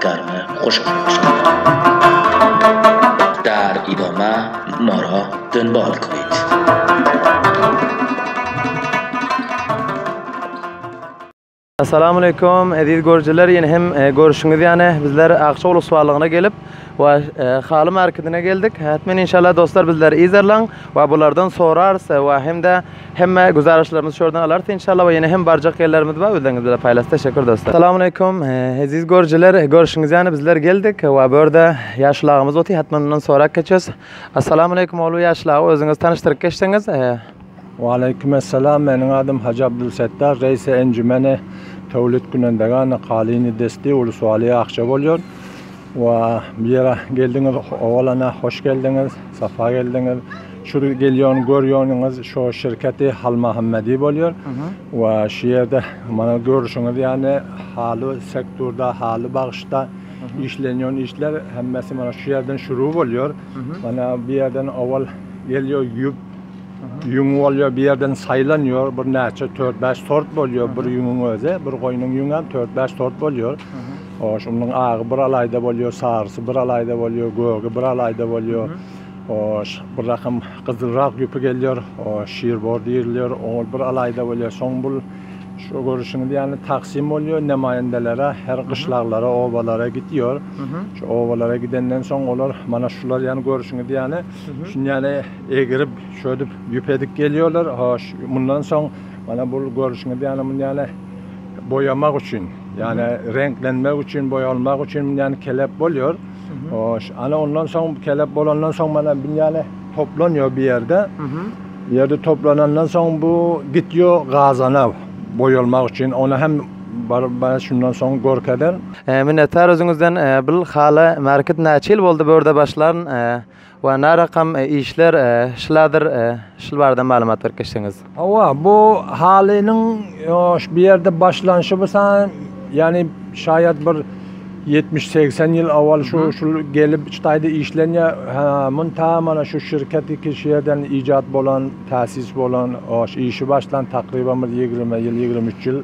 Garna goşa goşulýar. Dar idoma mora dön bol kowit. Assalamu aleykum eziz görüjiler ýene hem e, görüşüňiz ýane bizler Akça uluslarlygyna gelip we e, haly marketine geldik. Hätmen inşallah dostlar bizler izerlaň we bulardan sorarys we hem-de Hemme güzaraşlarymyzy şu ýerden alarys inşallah we ýene hem barjak ýerlerimiz bar, özleriňiz bilen paýlas. Teşekkür dostlar. Salamualeýkum, eziz görüjiler. Görşüňiz ýaly bizler geldik we bu ýerde ýaşuly agymyz otyr. Hatman ondan sorap geçeris. Assalamualeýkum ogly ýaşuly aga, özüňizi tanyşdyryp geçseňiz. Waleýkim essalam, meniň adym Hajy Abdulsetdar, reýsi enjümeni Tewlit Günendegana Kalyny Desti ulus waly Akja bolýar. Wah Mira geldiňiz oglana hoş geldiňiz sapa geldiňiz şu gelýän görýäniňiz şo şirketi Halmahammedi bolýar we şu ýerde mana görüşiňiz ýaly haly sektorda haly bagyşda işlenýän işler hemmesi mana şu ýerden şuru bolýar mana bu ýerden owal gelýär ýüp ýüň bolýar bu ýerden saýlanýar bir näçe tört bäş sort bolýar bir ýüňüň özi bir goýnuň ýüňem tört bäş sort bolýar Hoş, umuň agy bir alaýda bolýar, sarysy bir alaýda bolýar, gögi bir alaýda bolýar. Hoş, bir rakam gyzylrak ýüpi gelýär, hoş, şirbor diýilýär, ol bir alaýda bolýar. Soň bul şu görüşiňiz ýaly taksym bolýar, nemaýendelere, her gyşlaglara, obalara gidýär. Şu obalara gidenden soň olar mana şular ýaly görüşiňiz ýaly, şuny ýaly egirip, şödüp, ýüp edip gelýärler. Hoş, mundan soň mana bul görüşiňiz ýaly, muny ýaly boýamak üçin. Ýani reňklenmek üçin boýalmak üçin ýani kelep bolýar. Hoş, ana ondan soň kelep bolandan soň mana bir ýani toplanýar bir ýerde. Ýerde toplanandan soň bu gitýär gazana boýalmak üçin. Ony hem baryp baryp şundan soň görkezen. Minnetdar özüňizden. Bil hala market näçe ýyl boldy bu ýerde başlan? We närakam işler şladyr şul barada maglumat berip geçseňiz. Hawa bu halynyň şu bir ýerde başlanşy bu san ýani şaýat bir ýetmiş segsen ýyl owal şu şul gelip şu taýda işlenýä ha mun ta mana şu şirket iki şu ýerden ijat bolan täsis bolan o işi başlan takryban bir ýigrimi ýyl ýigrimi üç ýyl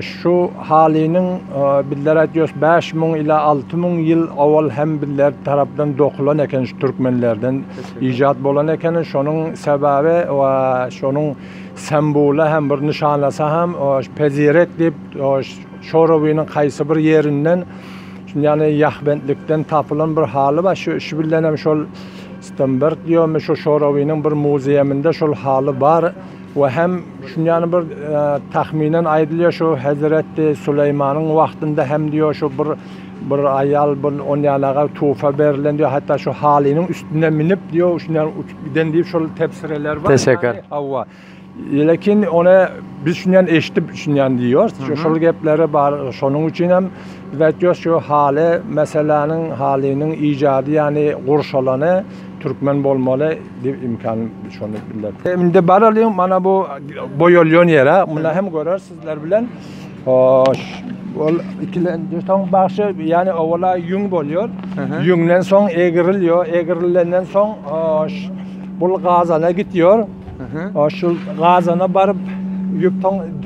Şu halynyň bizler aýtýarys bäş müň ila alty müň ýyl owal hem bizler tarapdan dokulan eken şu türkmenlerden ijat bolan ekeni şonuň sebäbi we şonuň semboly hem bir nyşanasy hem pezirek diýip Çorowynyň haýsy bir ýerinden ýagny ýahbentlikden tapylan bir haly bar şu şu bilen hem şol Stemberg diýomy şu Çorowynyň bir muzeýeminde şol haly bar. We hem şuny ýany bir tahminen aýdylýar şu Hezreti Süleýmanyň wagtynda hem diýýär şu bir bir aýal bir on ýanaga tufa berlen diýýär hatda şu halynyň üstüne minip diýýär şuny ýany uçup giden diýip şol tebsireler bar. Teşekkür. Hawa. Lekin ony biz şuny ýany eşidip şuny ýany diýýäris. Şu şol gepleri bar şonuň üçin hem biz aýtýarys şu haly meseläniň halynyň ijady ýany gurşalany Türkmen bolmaly dip imkan şony bildirdi. Indi baralyň mana bu boýalýan ýere. Munda hem görer sizler bilen. Hoş. Ol ikilenji soň bagşy ýani owala ýüň bolýar. Ýüňden soň egrilýär. Egrilenden soň hoş. Bul gazana gitýär. Aha. Şul gazana baryp ýük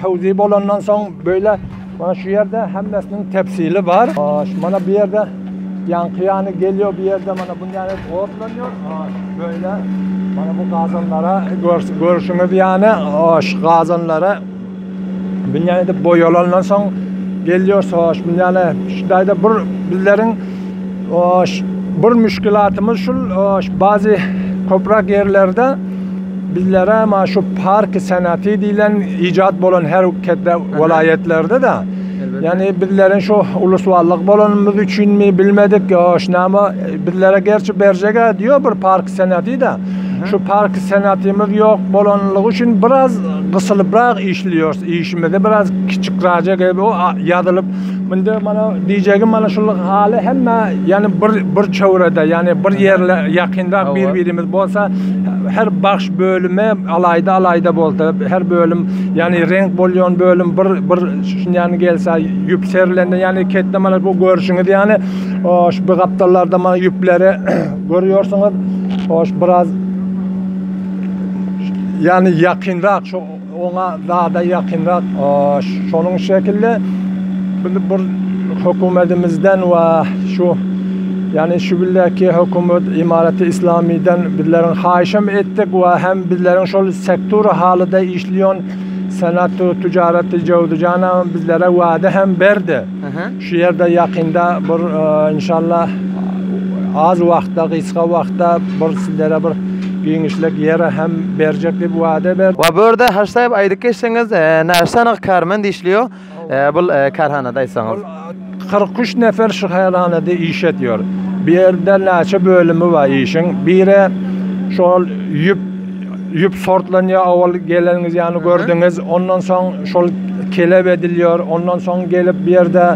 tawzi bolandan soň böyle mana şu ýerde hemmesiniň tepsili bar. Mana bu ýerde ýanky ýany gelýär bu ýerde mana bu ýany otlanýar. Böyle mana bu gazanlara görüşüňiz ýany şu gazanlara Binýan edip boýalandan soň gelýär soş. Binýana şudaýda bir bizleriň oş bir müşkilatymyz şul oş bazy köprak ýerlerde bizlere ma şu park senati diýlen ijat bolan her kette welaýatlarda da ýani bizleriň şu ulus wallak bolanymyz üçinmi bilmedik oş näme bizlere gerçi berjek diýýär bir park senati da Şu park senatymyz ýok bolanlygy üçin biraz gysylybrak işliýoris. Işimizde biraz kiçikraje gelip o ýazylyp. Munda mana diýjegim mana şul haly hemme ýani bir bir çöwrede ýani bir ýerle ýakynrak bir birimiz bolsa her bagş bölüme alaýda alaýda bolsa her bölüm ýani reňk bolýan bölüm bir bir şun ýani gelse ýüp serlende ýani ketde mana bu görşüňiz ýani şu bir gapdallarda mana ýüpleri Görýärsiňiz, hoş biraz ýany ýakynrak, şo oňa zada ýakynrak, şonuň şekilli biz bir hökümetimizden we şu ýany şu bildäki hökümet Imaraty Islamydan bizleriň haýyşam etdik we hem bizleriň şol sektor halyda işleýän Senat we Tijarat Jowzijana bizlere wada hem berdi. Şu ýerde ýakynda bir inşallah az wagtda gysga wagtda bir sizlere bir giňişlek ýere hem berjek diýip wada berdi. Wa bu ýerde haşsaýyp aýdyp geçseňiz näçe sany kärmen işliýo bul kärhanada aýtsaňyz. Bul kyrk üç nefer şu kärhanada iş etýor. Bu ýerde näçe bölümi bar işiň. Biri şol ýüp. Ýüp sortlanýar, owal geleniňiz ýaly gördüňiz. Ondan soň şol kelep edilýär. Ondan soň gelip bu ýerde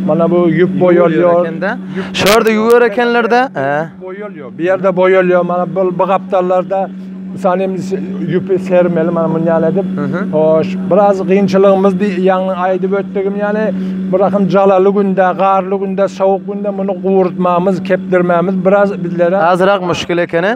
mana bu ýüp boýalýar. Şu ýerde ýüwer ekenler-de. Boýalýar. Bu ýerde boýalýar. Mana bu bu gapdallarda Mysal indi ýüpi sermeli mana muny ýaly edip. Hoş, biraz gynçylygymyz diý, ýaňy aýdyp ötdügim ýaly, bir ahym jalaly günde, garly günde, sowuk günde muny guwurtmamyz, kepdirmemiz biraz bizlere azyrak müşgil ekeni.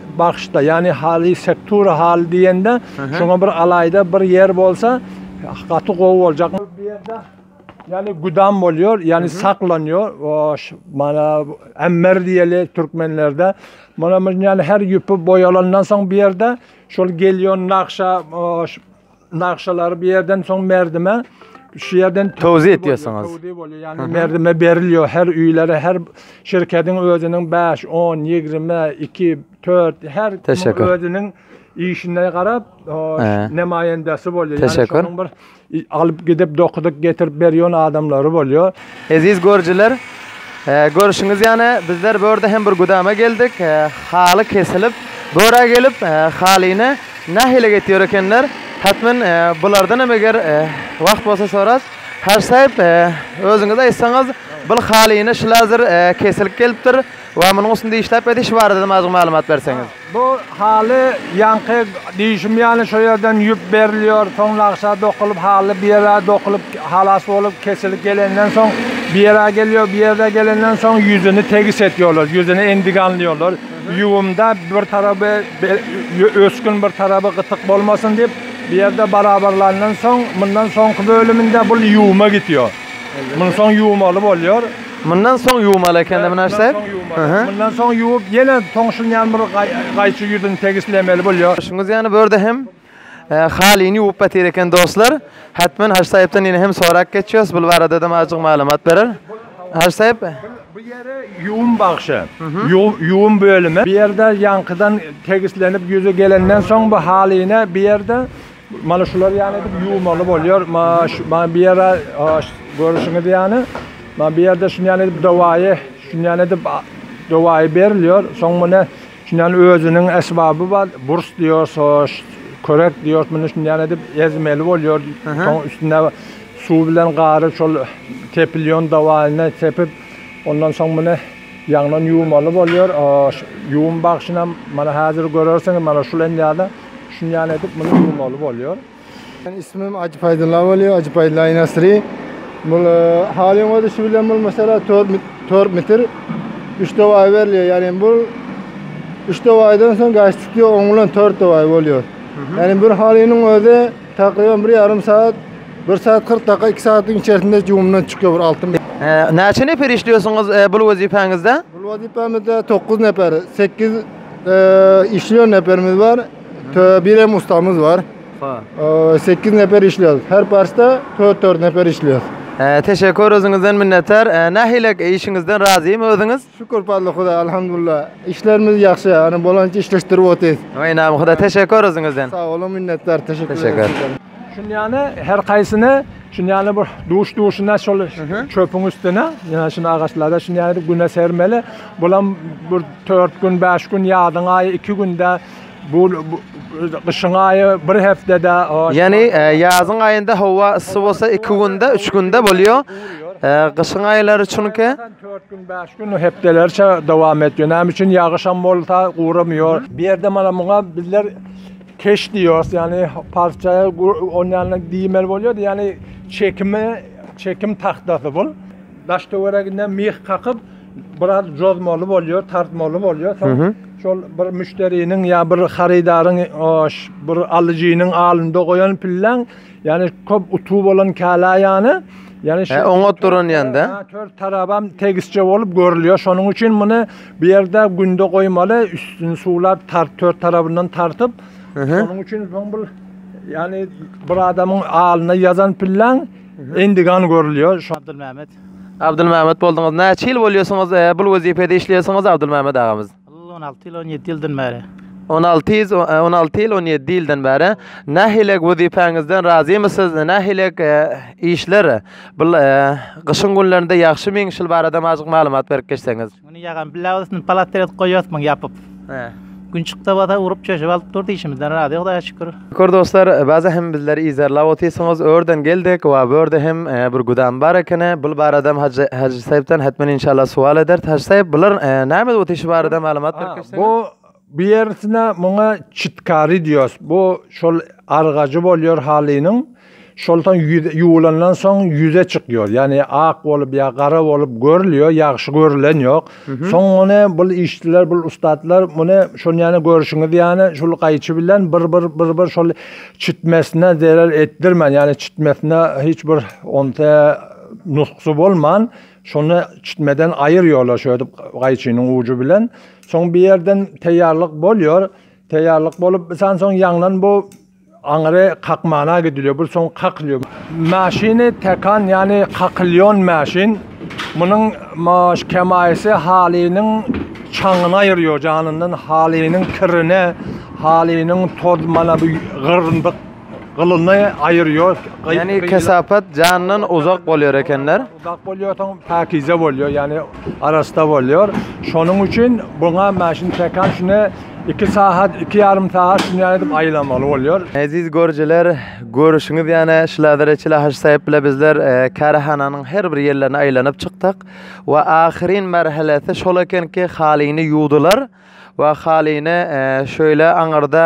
Bagşda, ýany haly sektura haly diýende, şoňa bir alaýda bir ýer bolsa, gaty gowy boljak. Bu ýerde, ýany güdam bolýar, ýany saklanýar, oş, mana emmer diýeli türkmenlerde. Mana, ýany her ýüpi boýalandan soň bu ýerde, şol gelýän nagşa, oş. Nagşalary bir ýerden soň merdime şu ýerden Towzi etýärsiňiz. Towzi bolýar. Ýagny merdime berilýär her öýlere, her şirketiň özüniň 5, 10, 20, 2, 4 her kimiň Teşekkür. özüniň işine garap o, He. nemaýendesi bolýar. Ýagny Teşekkür. şonuň bir i- alyp gidip dokudyp getirip berýän adamlary bolýar. Eziz görüjiler, görüşiňiz ýaly, bizler bu ýerde hem bir güdama geldik. Haly kesilip, göra gelip, halyny nähili getýär ekenler? Hatmen bulardan hem eger wagt bolsa soras. Haj Saip, özüňiz aýtsaňyz, bul halyny şul hazir kesilip gelipdir we munuň üstünde işläp ýatyşy barada-da azajyk maglumat berseňiz. Bu haly ýaňky diýşim ýaly şo ýerden ýüp berilýär, soň nagşa dokylyp haly bir ýere dokylyp halas bolup kesilip gelenden soň bir ýere gelýär, bir ýere gelenden soň ýüzüni tegis etýärler, ýüzüni endiganlaýarlar. Ýuwumda bir taraby ösgün bir taraby gytyk bolmasyn diýip bir ýerde barabarlandan soň mundan soňky bölüminde bul ýuwuma gitýär. Mundan soň ýuwmaly bolýar. Mundan soň ýuwmaly eken-de bu narsy. Mundan soň ýuwup, ýene toňşulýan bir gaýçy ýüzüni tegislemeli bolýar. Şuňyz ýaly bu ýerde hem halyny ýuwup batyr eken dostlar. Hatman Haj saýypdan ýene hem sorap geçýäs, bul barada-da azjyk maglumat berer. Haj saýyp. Bu ýeri ýuwum bagşy. Ýuwum bölümi. Bu ýerde ýaňkydan tegislenip ýüzi gelenden soň bu halyny bu ýerde Mana şular ýaly edip ýuwmaly bolýar. Maňa bu ýere görüşiňiz ýaly. Maňa bu ýerde şuny ýaly edip dowaýy, şuny ýaly edip dowaýy berilýär. Soň muny şuny ýaly özüniň esbaby bar. Burs diýýär, soş, körek diýýär. Muny şuny ýaly edip ezmeli bolýar. Soň üstüne suw bilen gary şol tepilýän dowaýyny sepip, ondan soň muny ýaňdan ýuwmaly bolýar. Ýuwum bagşynam mana häzir görersiňiz, mana şul enjada. Şun ýaly edip muny ýuwmaly bolýar. Meniň ismim Ajy Paýdylla bolýar, Ajy Paýdylla Inasri. Bul halyň ödüşi bilen bul mesela tört metr üç dowaýy berilýär. Ýagny bul üç dowaýydan soň gaýçytýa oň bilen tört dowaýy bolýar. Ýagny bir halynyň özi takryban bir ýarym saat, bir saat kyrk dakika, iki saatyň içerisinde ýuwumdan çykýar bir alty metr. Näçe neper işleýärsiňiz bul wezipäňizde? Bul wezipämizde dokuz neper, sekiz. Işleýän neperimiz bar. Tö- Bir hem ustamyz bar. Ha. Ee, Sekiz neper işleýär. Her parsda dört-dört neper işleýär. Ee, teşekkür özüňizden minnetdar. Ee, nähilek işiňizden razymy özüňiz? Şükür padly Hudaý, alhamdulillah. Işlerimiz ýagşy, ýagny bolança işleşdirip otyrys. Oýnamy Huda teşekkür özüňizden. Sag boluň, minnetdar. Teşekkür Teşekkür. ederim sizden. Şun ýaly her kaýsyny şun ýaly bir duş-duşuna şol çöpüň üstüne ýa şun agaçlara şun ýaly güne sermeli. Bulam bir tört gün, bäş gün ýazyň aýy iki günde bu gyşyň aýy bir hepdede. Ýani ýazyň aýynda howa yssy bolsa iki günde, üç günde bolýar. Gyşyň aýylary üçinkä? Tört gün, bäş gün hepdelerçe dowam etýär. Näme üçin ýagyşam bolsa guramýar. Bu ýerde mana muňa bizler keş diýýäris. Ýani parsça onuň ýanyna diýmeli bolýar. Ýani çekimi, çekim tagtasy bul. Daş töweregine mih kakyp. biraz jozmaly bolýar, tartmaly bolýar. Soň şol bir müşderiniň ýa bir harydaryň, bir alyjynyň alnynda goýan pilläň, ýani köp utugy bolan käläýany, ýani şu oňat duran ýanda, tört tarabam tegisçe bolup görülýär. Şonuň üçin muny bu ýerde günde goýmaly, üstüni suwlap, tart tört tarabyndan tartyp, şonuň üçin soň bu ýani bir adamyň alnyna ýazan pilläň endigan görülýär. Abdulmämet Abdulmämet bolduňyz näçe ýyl bolýarsyňyz bul wezipede işleýärsiňiz Abdulmämet agamyz? On alty ýyl on ýedi ýyldan bäri. On alty ýyz on alty ýyl on ýedi ýyldan bäri nähili wezipäňizden razymy siz nähili işler bul gyşyň günlerinde ýagşymy şul barada mazyk maglumat berip geçseňiz? Muny ýagan bilawysyny palat teretip goýýas muny ýapyp. He. Gün çykda basa urup çeşip alyp durdy işimizden razy Hudaýa şükür. Şükür dostlar, baza hem bizleri yzarlap otyrsyňyz, örden geldik wa bu ýerde hem bir güdam bar ekeni, bul baradam Hajy Hajy Saýypdan hatmen inşallah suwal ederis. Hajy Saýyp bular näme edip otyr şu barada maglumat berip geçseňiz. Bu Bu ýerisine muňa çitkari diýýäs. Bu şol argajy bolýar halynyň. Şoltan ýüz ýuwulandan soň ýüze çykýar. Ýagny ak bolup ýa gara bolup görülýär, ýagşy görülen ýok. Soň muny bul işçiler, bul ussatlar muny şony ýaly görşüňiz ýaly şol gaýçy bilen bir bir bir bir şol çitmesine zerer etdirmän, ýagny çitmesine hiç bir onte nusksy bolman, şony çitmeden aýyrýarlar şödüp gaýçynyň ujy bilen. Soň bir ýerden teýýarlyk bolýar. Teýýarlyk bolup bitan soň ýaňdan bu aňry kakmana gidilýär. Bu soň kakylýar. Maşyny tekan, ýagny kakylýan maşyn. Munuň maş kemaýysy halynyň çaňyny aýyrýar, janyndan halynyň kirine, halynyň toz mana bu gyryndyk Gylyny aýyrýos. Ýani kesapat jandan uzak bolýar ekenler. Uzak bolýar soň pakize bolýar ýani arassa bolýar. Şonuň üçin buňa maşyn çekan şuna 2 sagat, 2 ýarym sagat şuny ýaly edip aýlamaly bolýar. Eziz görüjiler görüşiňiz ýane şilada reçil ahyş saýyp bile bizler kärhananyň her bir ýerlerine aýlanyp çykdyk we ahyryn merhelesi şol ekenki halyny ýuwdylar we halyny şöýle aňyrda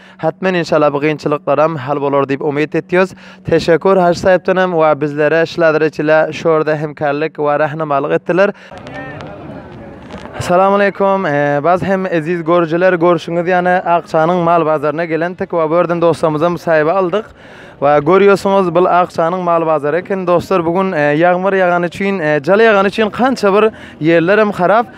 Hetmen inşallah bu gynçylyklaram hal bolar diýip umyt etýäs. Teşekkür Haç saýypdanam we bizlere şladyr içile şorda hemkarlyk we rahnamalyk etdiler. Salam aleykum. Baz hem eziz görüjiler görşüňiz ýany Akçanyň mal bazaryna gelentik we bu ýerden dostlarymyzam saýba aldyk. We görýärsiňiz bul Akçanyň mal bazary eken dostlar bu gün ýagmyr ýagany üçin, jala ýagany üçin kança bir ýerlerem harap.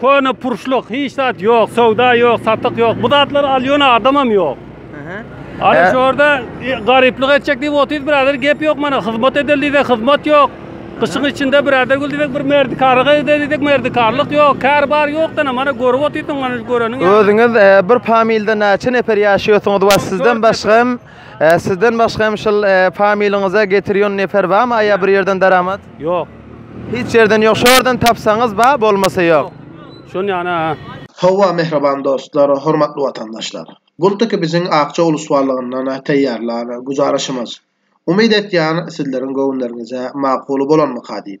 Köne purşluk, hiç zat ýok, söwda ýok, satyk ýok. Bu zatlary alýan adamam ýok. Ana şu ýerde garyplyk etjek diýip otyrys birader, gep ýok mana. Hyzmat edeli diýsek, hyzmat ýok. Gyşyň içinde birader gül diýsek, bir merdikarlyk edeli diýsek, merdikarlyk ýok. Kär bar ýokdan-a mana görüp otyrsyň, mana şu göreniň ýaly. Özüňiz bir pamilde näçe neper ýaşaýarsyňyz we sizden başga hem Ee sizden başga hem şul familiňize getirýon nefer barmy aýa bir ýerden daramat? Ýok. Hiç ýerden ýok şo ýerden tapsaňyz bar bolmasa ýok. Şony ýana ha. Hawa mähriban dostlar, hormatly watandaşlar. Gultiki biziň Akja ulusbarlygyndan taýýarlan güzaraşymyz. Umyt etýän sizleriň göwünleriňize makuly bolanmyka diýip.